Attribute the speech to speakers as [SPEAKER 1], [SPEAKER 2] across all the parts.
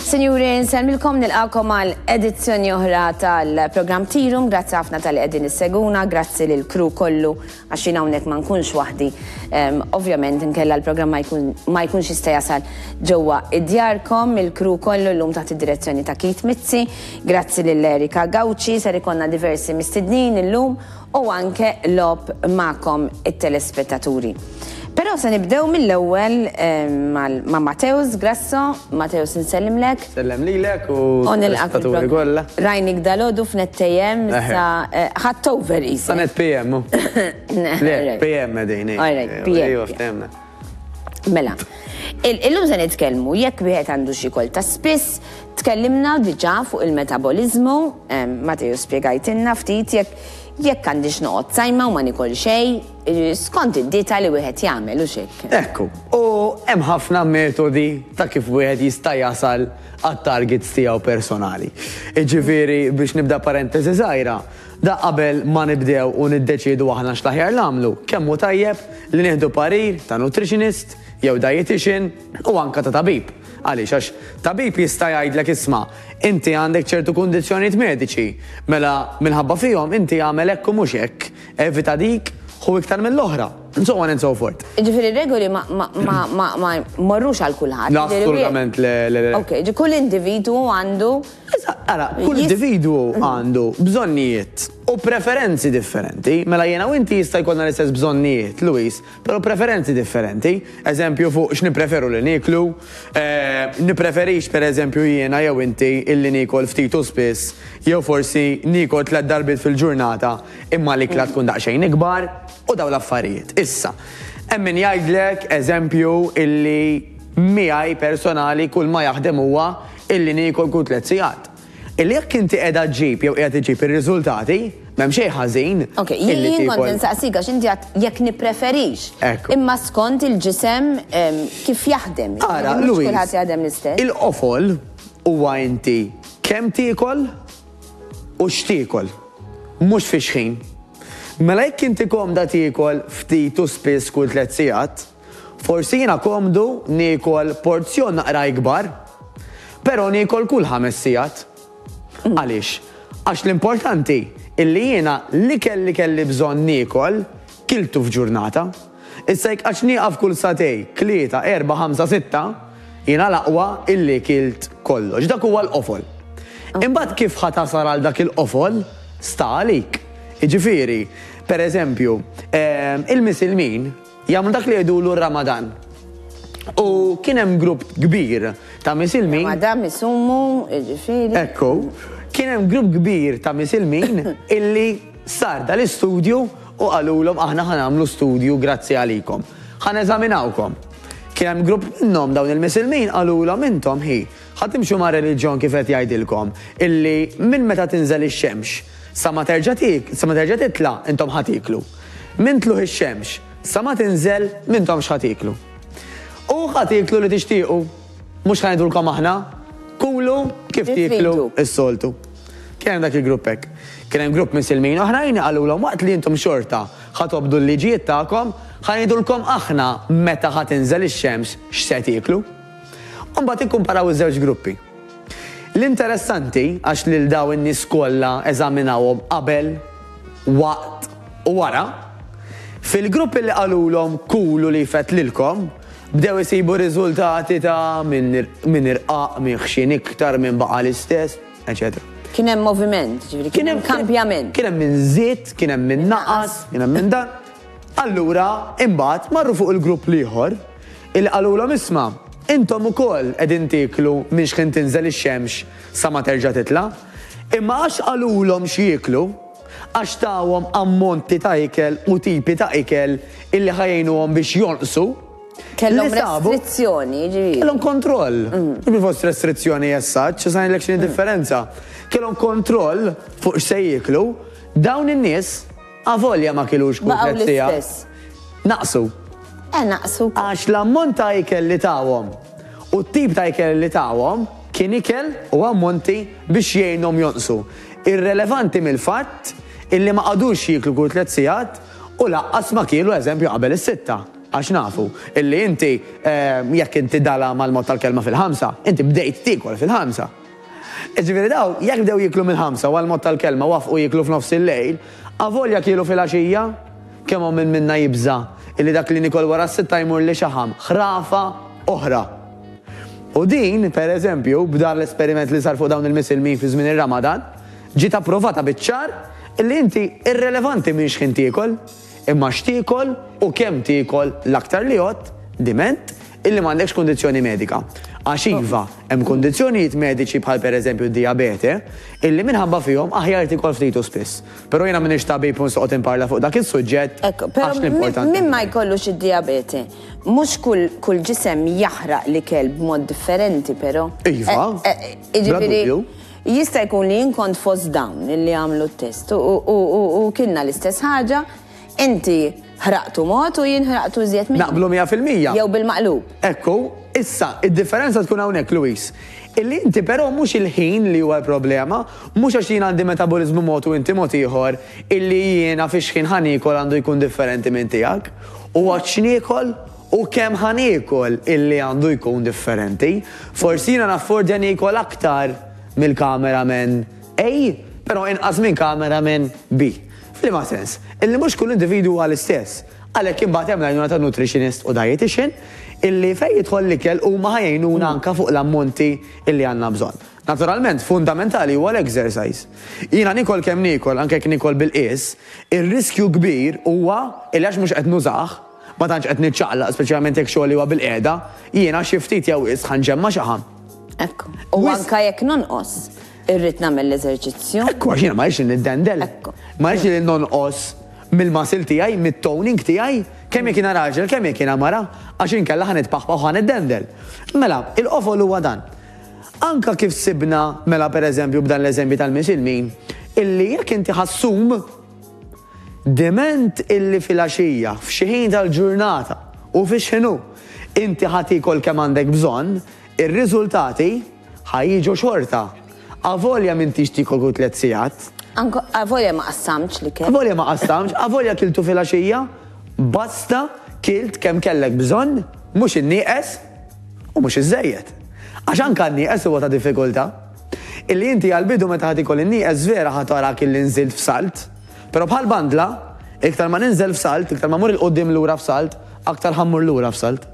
[SPEAKER 1] Sinjuri, nselmilkom nilqakom għal edizzjoni oħra tal-program Tirum, grazzi ħafna tal qegħdin is-seguna, grazzi lil kru kollu għax jien hawnhekk ma nkunx waħdi. Ehm, ovvjament inkella l-programm ma jkunx jista' jasal ġewwa id-djarkom, il-kru kollu llum taħt id-direzzjoni ta' Kit Mizzi, grazzi lil Erika Gawċi, ser ikonna diversi mistednin illum u anke logħob magħkom it-telespettaturi. Però se nibdew mill-ewwel ma' Mateusz Grasso, Mateusz insellimlek. Sellem lilek
[SPEAKER 2] u l-telespettaturi kollha. Rajnik dalodu
[SPEAKER 1] f'net AM sa ħadd over isek. Sa net PM. Le, PM
[SPEAKER 2] qegħdin. All right, PM.
[SPEAKER 1] Mela, illum se nitkellmu jekk wieħed għandu xi kol ta' spiss, tkellimna diġà fuq il-metaboliżmu, Mateo spjegajtilna ftit jekk jekk għandix noqgħod sajma u ma nikol xejn, skont id-dieta li wieħed jagħmel u x'hekk. Ekku, u
[SPEAKER 2] hemm ħafna metodi ta' kif wieħed jista' jasal għat-targets tiegħu personali. Iġifieri biex nibda parenteżi żgħira, Da qabel ma nibdew u niddeċiedu aħna x'l-aħjar nagħmlu, kemm hu tajjeb li nieħdu parir ta' nutritionist jew dietician u anke ta' tabib. Għaliex? Għax tabib jista' jgħidlek isma', inti għandek ċertu kundizzjonijiet mediċi, mela minħabba fihom inti agħmel hekk u mhux hekk, evita dik, ħu iktar mill-oħra, and so on and so forth. Jiġifieri r-regoli
[SPEAKER 1] ma jmorrux għal kulħadd. Assolutament le.
[SPEAKER 2] Ok, kull individwu
[SPEAKER 1] għandu Eżatt, ara,
[SPEAKER 2] kull individwu għandu bżonnijiet u preferenzi differenti. Mela jiena u inti jista' jkollna l-istess bżonnijiet, Louise, però preferenzi differenti. Eżempju fuq x'nippreferu li nieklu. Nippreferix, per eżempju, jiena jew inti illi niekol ftit u spiss jew forsi niekol tliet darbiet fil-ġurnata imma l-ikla tkun daqsxejn ikbar u dawn l-affarijiet. Issa, hemm min jgħidlek, eżempju, illi miegħi personali kulma jaħdem huwa illi niekol kull tliet sigħat. Illi jekk inti qiegħda ġġib jew qiegħed iġġib ir-riżultati, m'hemm xejn ħażin. Ok, jien kont
[SPEAKER 1] insaqsik għax inti għad jekk nippreferix. Imma skont il-ġisem kif jaħdem. Ara, Louise. Kulħadd
[SPEAKER 2] jaħdem l-istess.
[SPEAKER 1] Il-qofol
[SPEAKER 2] huwa inti kemm tiekol u x'tiekol. Mhux fix-xħin. Mela jekk inti komda tiekol ftit u spiss kull tliet sigħat, Forsi jiena komdu niekol porzjon naqra ikbar, però niekol kull ħames sigħat. Għaliex? Għax l-importanti hi li jiena l-ikel li kelli bżonn niekol, kiltu f'ġurnata. Issa jekk għadx nieqaf kull sagħtej, tlieta, erbgħa, ħamsa, sitta, jiena l-aqwa illi kilt kollox. Dak huwa l-qofol. Imbagħad kif ħa tasal għal dak il-qofol, sta għalik. Jiġifieri, pereżempju, ehm, il-misilmin, Jagħmlu dak li jgħidulu r-Ramadan. U kien hemm grupp kbir ta' misilmin. Ramadan misumu,
[SPEAKER 1] ġifieri. Ekku,
[SPEAKER 2] kien hemm grupp kbir ta' misilmin illi sar dal-istudju u qalulhom aħna ħa nagħmlu studju grazzi għalikom. Ħa neżaminawkom. Kien hemm grupp minnhom dawn il-misilmin qalulhom intom ħi Ħa timxu ma' reliġjon kif qed jgħidilkom illi minn meta tinżel ix-xemx sa ma terġa' sa ma terġa' titla' intom ħa tieklu. Minn tlugħ ix-xemx sa ma tinżel m'intomx ħa tieklu. U ħa tieklu li tixtiequ. Mhux ħa ngħidulkom aħna, Kulu kif tieklu s-soltu. Kien hemm dak il-grupp hekk. Kien hemm grupp misilmin oħrajn qalulhom waqt li intom xorta ħa tobdu l-liġijiet tagħkom, ħa ngħidulkom aħna meta ħa tinżel ix-xemx x'se tieklu. u mbagħad ikkumparaw iż-żewġ gruppi. L-interessanti, għax lil dawn in-nies kollha eżaminawhom qabel, waqt u wara, fil-gruppi li qalulhom kulu li jfett lilkom, bdew isibu riżultati ta' min irqaq, min ħxien iktar, min baqa' l-istess, eċetera. Kien hemm moviment,
[SPEAKER 1] ġifieri kien hemm kambjament. Kien hemm min żied,
[SPEAKER 2] kien hemm min naqas, kien hemm min dan. Allura, imbagħad marru fuq il-grupp l-ieħor, Illi qalulhom, Isma', intom ukoll qegħdin tieklu minn xħin tinżel ix-xemx sa ma terġa' titla'. Imma għax qalulhom x'jieklu, għax tawhom ammonti ta' ikel u tipi ta' ikel illi ħa jgħinuhom biex jonqsu, Kellhom
[SPEAKER 1] restrizzjoni, jiġifieri. Kellhom kontroll.
[SPEAKER 2] Mhux fost restrizzjoni as such, issa ngħidlek x'inhi differenza. Kellhom kontroll fuq x'se jieklu, dawn in-nies, Avolja ma kilux kull tliet siegħat. Baqgħu l-istess. Naqsu. Eh naqsu.
[SPEAKER 1] Għax l-ammont
[SPEAKER 2] ta' ikel li tawhom u t-tip ta' ikel li tawhom kien ikel u ammonti biex jgħinhom jonqsu, irrelevanti mill-fatt illi ma qagħdux jieklu kull tliet siegħat u lanqas ma kielu eżempju qabel is-sitta. Għax nafu illi inti jekk inti dala mal-mod tal-kelma fil-ħamsa, inti bdejt tiekol fil-ħamsa. Jiġifieri dawn, jekk bdew jieklu mill-ħamsa u għall-mod tal-kelma waffqu jieklu f'nofs il-lejl, avolja kielu filgħaxija? Kemm hawn min minna jibża' illi dak li niekol wara s-sitta jmurli xaħam, ħrafa oħra! U din, pereżempju, b'dan l-esperiment li sar fuq dawn il-misilmin fi żmien ir-Ramadan, ġiet approvata biċ-ċar illi inti irrelevanti minn x'ħin tiekol. Imma x'tiekol u kemm tiekol l-aktar li għodt diment illi m'għandekx kundizzjoni medika. Għax iva, hemm kundizzjonijiet mediċi bħal pereżempju d-dijabete illi minħabba fihom aħjar tiekol ftit u spiss. Però jiena m'iniex tabib u nsoqgħod inparla fuq dak is-suġġett għax l-importanti. Min ma jkollux
[SPEAKER 1] id-dijabete, mhux kull ġisem jaħraq l-ikel b'mod differenti però. Iva.
[SPEAKER 2] Jiġifieri.
[SPEAKER 1] Jista' jkun li jien kont fost dawn li għamlu t-test u kienna l-istess ħaġa, inti ħraqtu mod u jien ħraqtu iżjed minnu. Naqblu mija fil-mija. Jew
[SPEAKER 2] bil-maqlub.
[SPEAKER 1] Ekku, issa,
[SPEAKER 2] id-differenza tkun hawnhekk, Louise, illi inti però mhux il-ħin li huwa l-problema, mhux għax jien għandi metaboliżmu mod u inti mod ieħor, illi jiena fix-xħin ħa niekol għandu jkun differenti minn tiegħek. Huwa x'niekol U kemm ħa niekol illi għandu jkun differenti? Forsi jiena naffordja niekol aktar mill-cameraman A, però inqas minn cameraman B. F'liema sens? Illi mhux kull individwu huwa l-istess. Għalhekk imbagħad hemm l-għajnuna ta' nutritionist u dietician illi fejn jidħol l-ikel huma ħa jgħinuna anke fuq l-ammonti illi għandna bżonn. Naturalment, fundamentali huwa l-exercise. Jiena niekol kemm niekol, anke jekk niekol bil-qies, ir-riskju kbir huwa illi għax mhux qed nużah, Ma tantx qed niċċaqlaq, speċjalment jekk xogħli huwa bilqiegħda. Jiena xi ftit jew wisq ħa nġemma' xaħam. Hekk. U
[SPEAKER 1] anke jekk nonqos, irrid nagħmel l-eżerċizzju. Hekk, għax jiena ma rridx li
[SPEAKER 2] niddendel. Ma rridx li nonqos mill-muscle tiegħi, mit-toning tiegħi, kemm jekk jiena raġel, kemm jekk jiena mara, għax inkella ħa nitpaħpaħ u ħa niddendel. Mela, il-qofol huwa dan. Anke kif sibna, mela pereżempju b'dan l-eżempju tal-misilmin, illi jekk inti ħa ssum, Diment illi filgħaxija, f'xi ħin tal-ġurnata u fix-x'inhu, inti ħa tiekol kemm għandek bżonn, ir-riżultati ħa jiġu xorta, avolja m'intix tiekol kull tliet sigħat. Avolja ma
[SPEAKER 1] qassamtx l-ikel. Avolja ma qassamtx, avolja
[SPEAKER 2] kiltu filgħaxija, basta kilt kemm kellek bżonn, mhux innieqes u mhux iżżejjed. Għax anke n-nieqes huwa ta' diffikultà. Illi inti għall-bidu meta ħa tiekol in-nieqes vera ħa tarak illi nżilt f'salt. Però bħal bandla, iktar ma ninżel f'salt, iktar ma mmur 'il quddiem lura f'salt, aktar ħa mmur lura f'salt.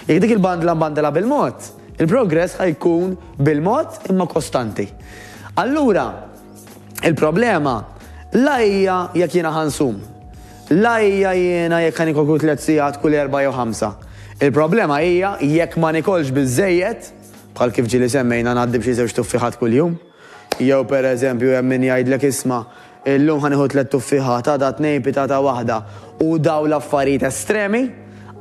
[SPEAKER 2] Jekk dik il-bandla nbandilha bil-mod, il-progress ħa jkun bil-mod imma kostanti. Allura, il-problema la hija jekk jiena ħa nsum, la hija jiena jekk ħa niekol kull tliet sigħat kull erbgħa jew ħamsa. Il-problema hija jekk ma niekolx biżżejjed, Bħal kif ġieli semmejna ngħaddi b'xi żewġ tuffieħat kuljum. Jew pereżempju hemm min jgħidlek isma', illum ħa nieħu tliet tuffieħat, għada tnejn pitata waħda u dawn l-affarijiet estremi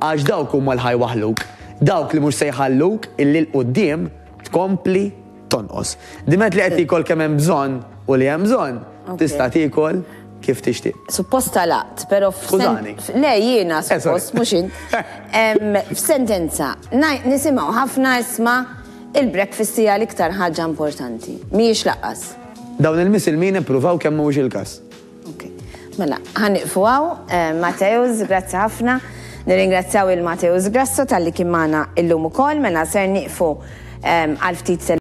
[SPEAKER 2] għax dawk huma li ħa jwaħħluk, dawk li mhux se jħalluk illi 'l quddiem tkompli tonqos. Diment li qed tiekol kemm hemm bżonn u li hemm bżonn tista' tiekol. kif tixtieq. Suppost talaqt,
[SPEAKER 1] pero Skużani. Le, jiena, eh, suppost, mux int. F'sentenza, nisimaw ħafna isma il-breakfast hija l-iktar ħaġa importanti. Miex laqqas. Dawn il-misilmin
[SPEAKER 2] ippruvaw kemm mhux il-każ. Mela,
[SPEAKER 1] ħaniqfu għaw, eh, Mateus, grazzi ħafna. Nirringrazzjaw il-Mateus Grasso tal-li kien magħna illum ukoll, mela ser niqfu eh, għal ftit